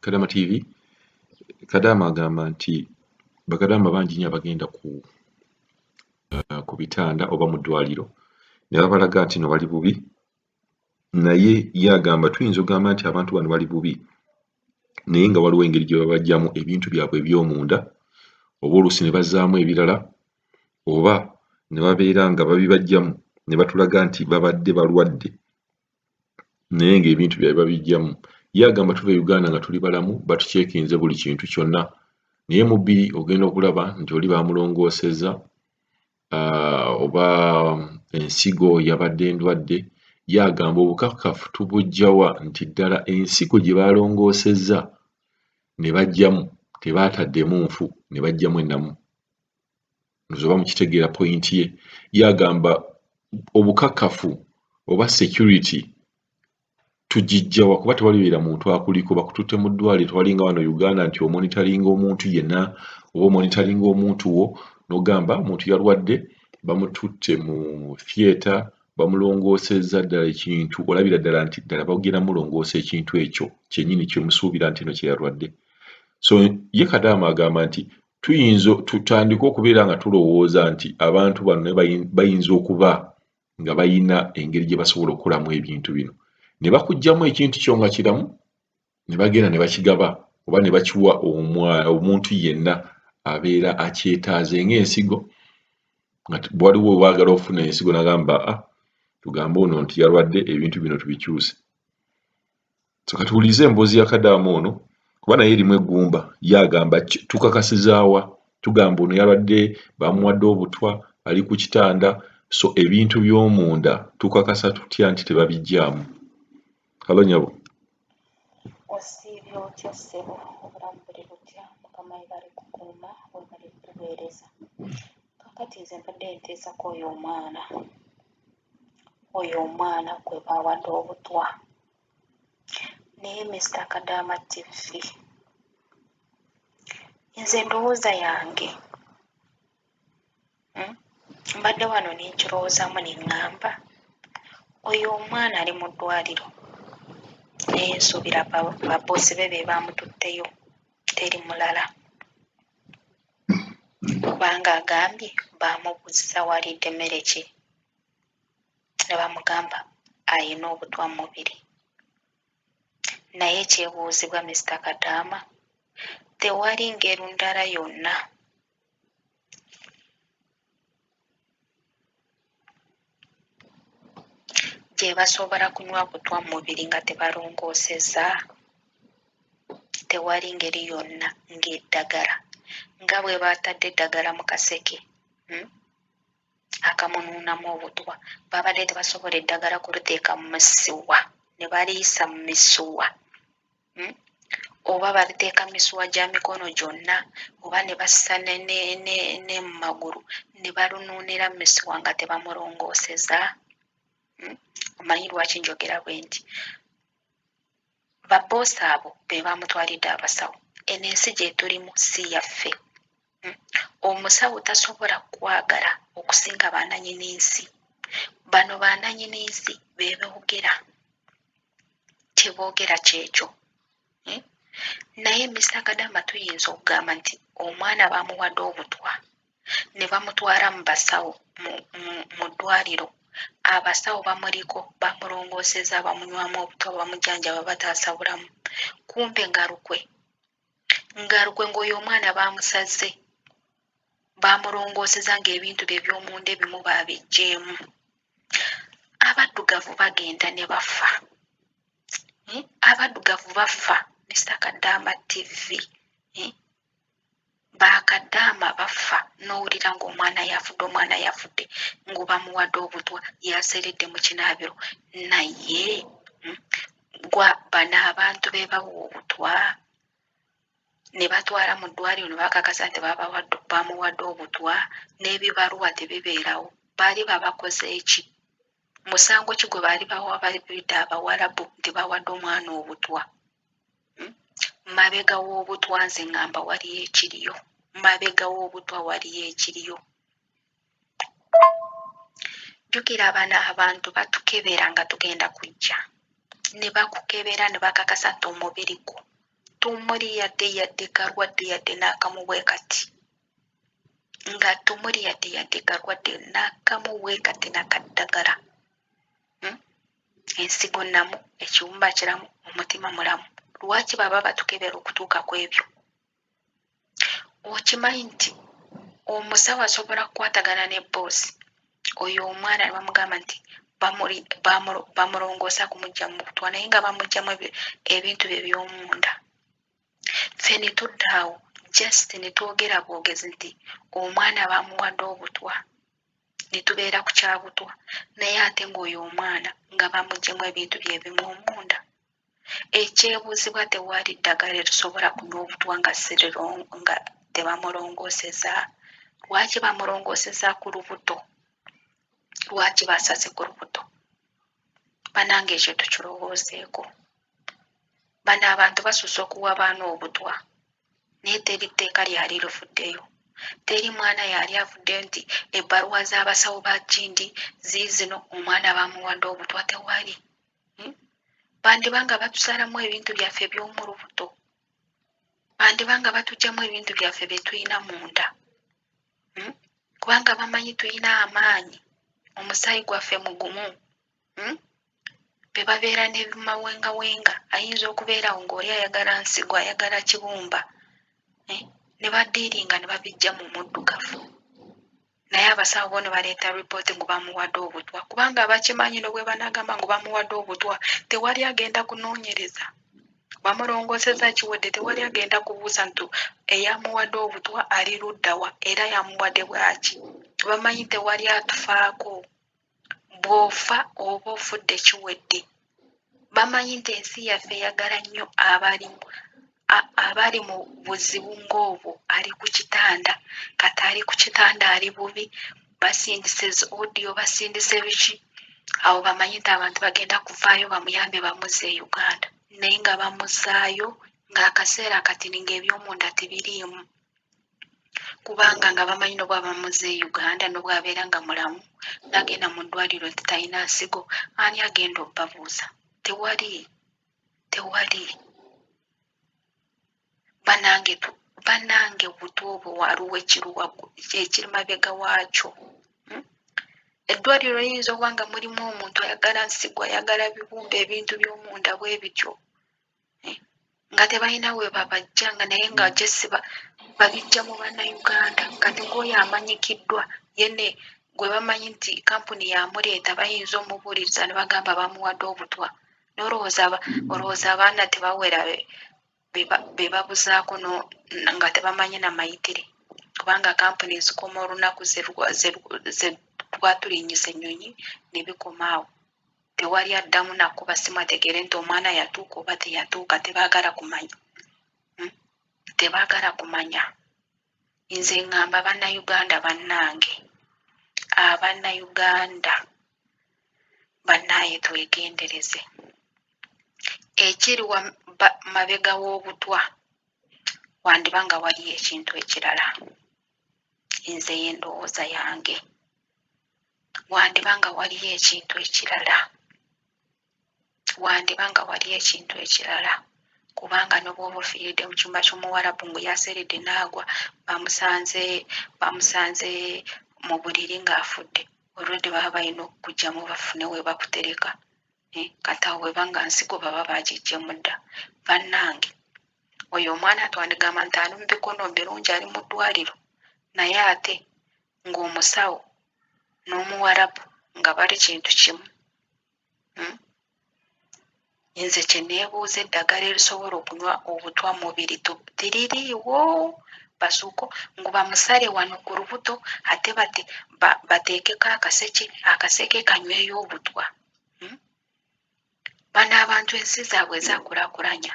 kadama tv kadama agamba nti bakadama bangi nyo abagenda ku uh, ku bitanda oba mu ddwaliro ne babalaga nti no bali bubi naye ye agamba tuyinza ogamba nti abantu bano bali bubi naye nga waliwo engeri gye babajjamu ebintu byabwe eby'omunda oba oluusi ne bazaamu ebirala oba ne babeera nga babibajjamu ne batulaga nti babadde balwadde naye nga ebintu byabwe babijjamu ye agamba tuva e uganda nga tuli balamu batucekinze buli kintu kyonna naye mubiri ogenda okulaba nti oli bamulongoosezza oba ensigo yabadde endwadde ye agamba obukakafu tubujjawa nti ddala ensigo gye balongoosezza ne bajjamu tebaataddemu nfu ne bajjamu ennamu nze oba mukitegeera point ye ye agamba obukakafu oba security tugijjawa kuba tewalibeera muntu akuliko bakututte mu ddwaliro tewalinga wano uganda nti omonitaringa omuntu yena oba omonitaringa omuntu wo nogamba omuntu yalwadde bamututte mu theatre bamulongoosezza ddala ekintu olabira ddala nti ddala bagenda mulongoosa ekintu ekyo kyenyini kyemusuubira nti no kyeyalwadde so ye kadaama agamba nti tuyinza tutandike okubeera nga tulowooza nti abantu bano naye bayinza okuba nga bayina engeri gye basobola okukolamu ebintu bino ne bakugyamu ekintu kyo nga kiramu ne bagenda ne bakigaba oba ne bakiwa omuntu yenna abeera akyetaaze ng'ensigo nga waliwo waagala ofuna ensigo nagamba a ah, tugambe ono nti yalwadde ebintu bino tubikyuse So kati wuliriza emboozi ya kadaama ono kuba naye erimu eggumba ye agamba tukakasizaawa tugamba ono yabadde bamuwadde obutwa ali ku kitanda so ebintu by'omunda tukakasa tutya nti tebabijjaamu halo nyabo osiibye otya ssebo obulamu buli butya mukama ebale kukuuma webale kuweereza kakati nze mbadde nteesako oyo omwana oyo omwana gwe baawadde obutwa naye Mister Kadaama TV nze ndowooza yange hmm? mbadde wano ne nkirowoozaamu ne ŋŋamba oyo omwana ali mu ddwaliro naye nsuubira baboosi be be baamututteyo teri mulala kubanga agambye baamubuuzizza waalidde mmere ki ne bamugamba alina obutwa mu mubiri naye ekyebuuzibwa Mister Kadaama tewali ngeri ndala yonna gye basobola kunywa butwa mu mubiri nga tebalongoosezza? Tewali ngeri yonna ng'eddagala nga bwe baatadde eddagala mu kaseke hmm? akamunuunamu obutwa. Baabadde tebasobola eddagala kuliteeka mu misuwa ne baliyisa mu misuwa hmm? oba baliteeka mu misuwa gya mikono gyonna oba ne bassa ne mu magulu ne balunuunira mu misuwa nga tebamulongooseza hmm? omanyi lwaki njogera bwe nti Ba boss abo bebamutwalidde abasawo eno ensi gyetulimu si yaffe omusawo tasobola kwagala okusinga bananyini nsi bano bananyini nsi bebogera kyebogera kyekyo naye Mister kadama tuyinza okugamba nti omwana bamuwade obutwa. ne bamutwala mu basawo mu ddwaliro abasawo bamuliko bamulongooseza bamunywamu obutwa bamujanjaba bataasa bulamu kumbe nga lukwe nga lukwe ng'oyo omwana baamusazze baamulongooseza ng'ebintu bye by'omunda ebimu baabiggyeemu abaddugavu bagenda ne bafa eh, abaddugavu bafa misakaddaama ttivi bakadaama baffa nowulira nga omwana yafudde omwana yafudde ngobamuwadde obutwa yaseredde mukinaabiro naye hmm, gwa bano abantu bebawa obutwa nebatwala mu ddwaliro nebakakasa nti bamuwadde obutwa nebibaluwa tebibeerawo baali babakoze eki musango ki gwe baali bawa babidde abawalabu nti bawadde omwana obutwa hmm? mabega w'obutwa nze ngamba waliyo ekiriyo mabega w'obutwa waliyo ekiriyo jjukira abana abantu batukebera nga tugenda kujja ne bakukebera ne bakakasa nti omubiri gwo tumuli yadde yadde kalwadde yadde n'akamu bwe kati nga tumuli yadde yadde kalwadde n'akamu bwe kati nakaddagala hmm? ensigo nnamu ekiwumba kiramu omutima mulamu lwaki baba batukebera okutuuka ku ebyo okimanyi nti omusawo asobola kukwatagana ne boosi oyo omwana ne bamugamba nti bamulongoosa kumujja mu butwa naye nga bamugjamu ebintu bye by'omunda ffe ne tuddaawo just ne twogera bwogezi nti omwana bamuwadde obutwa ne tubeera ku kya butwa naye ate ng'oyo omwana nga bamuggyemu ebintu bye bimu omunda. Ekyebuuzibwa tewali ddagala erisobola kunywa obutwa nga nga tebamulongooseza? Lwaki bamulongooseza ku lubuto? Lwaki basaze ku lubuto? Banange ekyo tukirowoozeeko. Bano abantu basusse okuwa baana obutwa. naye teri tteeka lyali luvuddeyo teri mwana yali avuddeyo nti ebbaluwa z'abasawo ba kindi ziizino omwana bamuwadde obutwa tewali hmm? bandiba nga batusalamu ebintu byaffe by'omu lubuto bandiba nga batugyamu ebintu byaffe bye tulina munda hmm? kubanga bamanyi tulina amaanyi omusaayi gwaffe mugumu hmm? be babeera nebimawengawenga ayinza okubeerawo ngaoli ayagala nsigo ayagala kibumba eh? ne badiiringa ne babijja mu muddugavu naye abasawo bono baleeta ripooti ngu bamuwadde obutwa kubanga abakimanyi nobwe banagamba ngu bamuwadde obutwa tewali agenda kunoonyereza bamulongooseza kiwedde tewali agenda kubuuza nti eyamuwadde obutwa ali luddawa era yamuwadde bwaki bamanyi tewali atufaako Bw'ofa oba ofudde kiwedde. Bamanyi nti ensi yaffe eyagala nnyo abali abali mu buzibu ng'obwo ali ku kitanda kati ali ku kitanda ali bubi basindise zi odiyo basindise biki awo bamanyi nti abantu bagenda kuvaayo bamuyambe bamuzza e Uganda naye nga bamuzaayo ng'akaseera kati ng'ebyomunda tebiriimu. kubanga nga bamanyi nobwaba muze e uganda nobwabeera nga mulamu nagenda mu ddwaliro nti talina nsigo ani agenda obabuuza tewali tewali banange banange obutu obwo waliwo ekiri mabega waakyo hmm? eddwaliro liyinza okuba nga mulimu omuntu ayagala nsigo ayagala bibumba ebintu by'omunda bwe bityo nga tebalina we babajja nga naye nga jesiba babijja mu bannayuganda kati ng'oyo amanyikiddwa yene gwe bamanyi nti kampuni yamuleeta bayinza omubuuliriza ne bagamba bamuwadde obutwa nolowooza olowooza abaana tebawera be babuzaako nga tebamanyi na mayitire kubanga kampuni ezikoma olunaku ze twatulinnyisa ennyonyi ne bikoma awo Tewali addamu nakuba ssimu ategeere nti omwana yatuuka oba teyatuuka tebaagala kumanya hmm? tebaagala kumanya nze ngamba bannayuganda bannange abannayuganda bannaaye twegendereze ekiri mabega w'obutwa wandiba nga waliyo ekintu ekirala nze ye ndowooza yange wandiba nga waliyo ekintu ekirala wandiba nga waliyo ekintu ekirala kubanga nobwoba ofiiridde mu kyumba ky'omuwarabu ngu yaseeredde naagwa bamusanze bamusanze mu buliri ng'afudde olwedde baba balina okukugyamu bafune we bakutereka eh, kati awo bweba nga nsigo baba bagiggyemu dda bannange oyo omwana twandigamba nti ali mu bikono birungi ali mu ddwaliro naye ate ng'omusawo n'omuwarabu nga bali kintu kimu hmm? nze kyeneebuuza eddagala erisobola okunywa obutwa mubiri tiririiwo basuuko ngu bamusale wano ku lubuto ate bate bateekeko akaseke akaseke kanyweyo obutwa hmm? bano abantu ensi zaabwe ezakulakulanya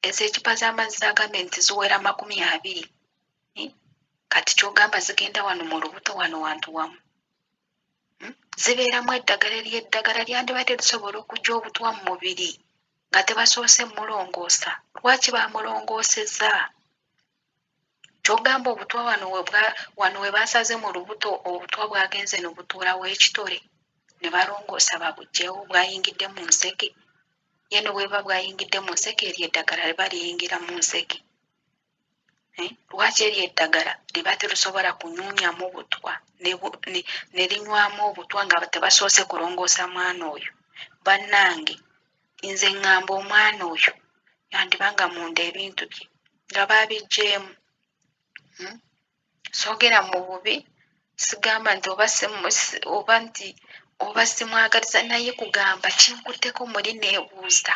ezo ekipa z'amazzi agambye nti ziwera makumi abiri Eh? kati kyogamba zigenda wano mu lubuto wano wantu wamu hmm? zibeeramu eddagala eryeddagala lyandibadde lisobola okujja obutwa mu mubiri nga tebasoose mulongoosa lwaki bamulongooseza kyogamba obutwa wano wano we basaze mu lubuto obutwa bwagenze no butuulawo ekitole ne balongoosa babugyewo bwayingidde mu nseke yeno bweba bwayingidde mu nseke eryeddagala liba liyingira mu nseke Eh, lwaki eryo eddagala liba terusobola kunyunyamu butwa ne linywamu obutwa nga tebasoose kulongoosa mwana oyo bannange nze ŋŋamba omwana oyo yandiba nga munda ebintu bye nga baabiggyeemu hmm? sogera mu bubi sigamba nti oba oba nti oba simwagaliza naye kugamba kinkutteko muli neebuuza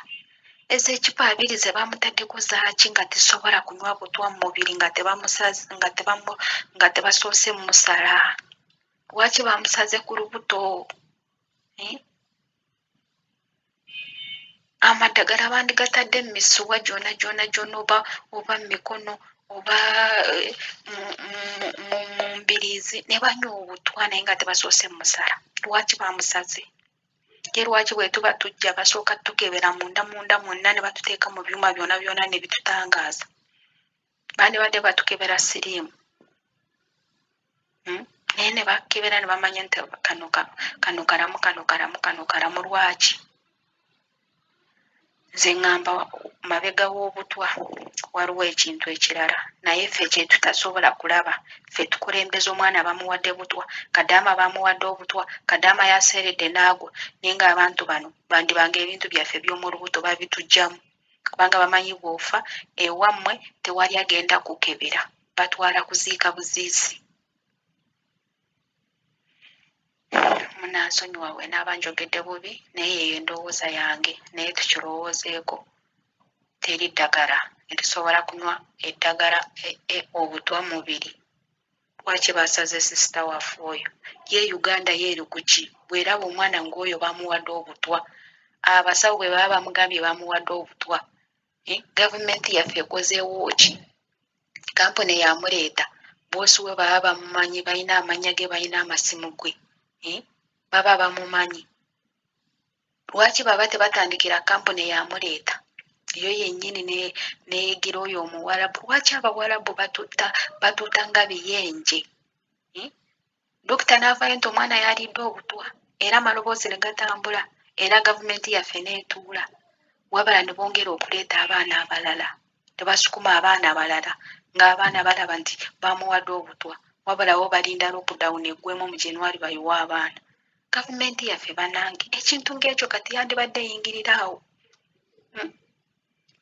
ezo ekipa abiri ze bamutaddeko zaaki nga tesobola kunywa butwa mu mubiri nga tebamusazi nga tebamu nga tebasoose musala lwaki bamusaze ku lubuto eh? amadagala bandigatadde mu misuwa gyona gyona gyona oba oba mumikono oba eh, mu mbiriizi ne banywa obutwa naye nga tebasoose musala lwaki bamusaze ye lwaki bwetuba tujja basooka tukebera munda munda mwonna ne batuteeka mu byuma byona byona ne bitutangaaza bandibadde batukebera siriimu hmm? naye ne bakebera ne bamanya nti kano kano kalamu kano kalamu kano kalamu lwaki nze ŋŋamba mabega w'obutwa waliwo ekintu ekirala naye ffe kyetutasobola kulaba ffe tukulembeza omwana bamuwadde butwa kadaama bamuwadde obutwa kadaama yaseeredde n'agwa naye ng'abantu bano bandiba nga ebintu byaffe by'omu lubuto babitugyamu kubanga bamanyi bwofa ewammwe tewali agenda kukebera batwala kuziika buziizi munansonyiwa we naaba njogedde bubi naye yeyo endowooza yange naye tukirowoozeeko teri ddagala erisobola kunywa eddagala e, e, obutwa mubiri Lwaki basaze sister wafe oyo ye Uganda ye eri kuki bweraba omwana ngoyo bamuwade obutwa abasawo bwe baba bamugambye bamuwade obutwa eh? government yaffe ekozeewo ki kampuni yamuleeta boosi we baba bamumanyi balina amanya ge balina amasimu gwe eh? baba bamumanyi lwaki baba tebatandikira kampuni yamuleeta yo yennyini neyigira oyo omuwarabu lwaki abawarabu batuta batuta nga biyenje hmm? dokita n'avayo nti omwana yaliidde obutwa era amaloboozi ne gatambula era gavumenti yaffe neetuula wabala ne bongera okuleeta abaana abalala ne basukuma abaana abalala ng'abaana balaba nti bamuwadde obutwa wabalawo balinda lockdown eggwemu mu januari bayiwa abaana Gavumenti yaffe banange ekintu ng'ekyo kati yandibadde eyingirira awo hmm.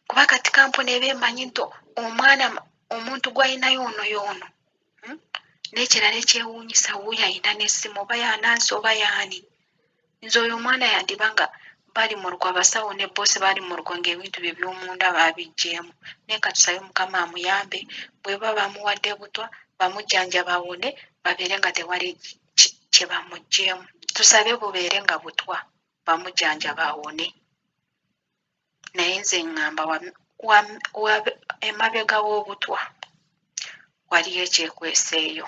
kuba kati kampuni eba emanyi nti omwana omuntu gw'alinayo ono y'ono hmm. n'ekirala ekyewuunyisa wuuyo alina n'essimu oba yanansi oba yaani nze oyo omwana yandiba nga bali mu lukwe abasawo ne boosi bali mu lukwe ng'ebintu bye by'omunda baabiggyemu naye katusabe mukama amuyambe bwe baba bamuwadde butwa bamujjanjaba awone babeere nga tewali kye bamuggyeemu tusabe bubeere nga butwa bamujanjaba awone naye nze ŋŋamba emabega w'obutwa waliyo ekyekweseeyo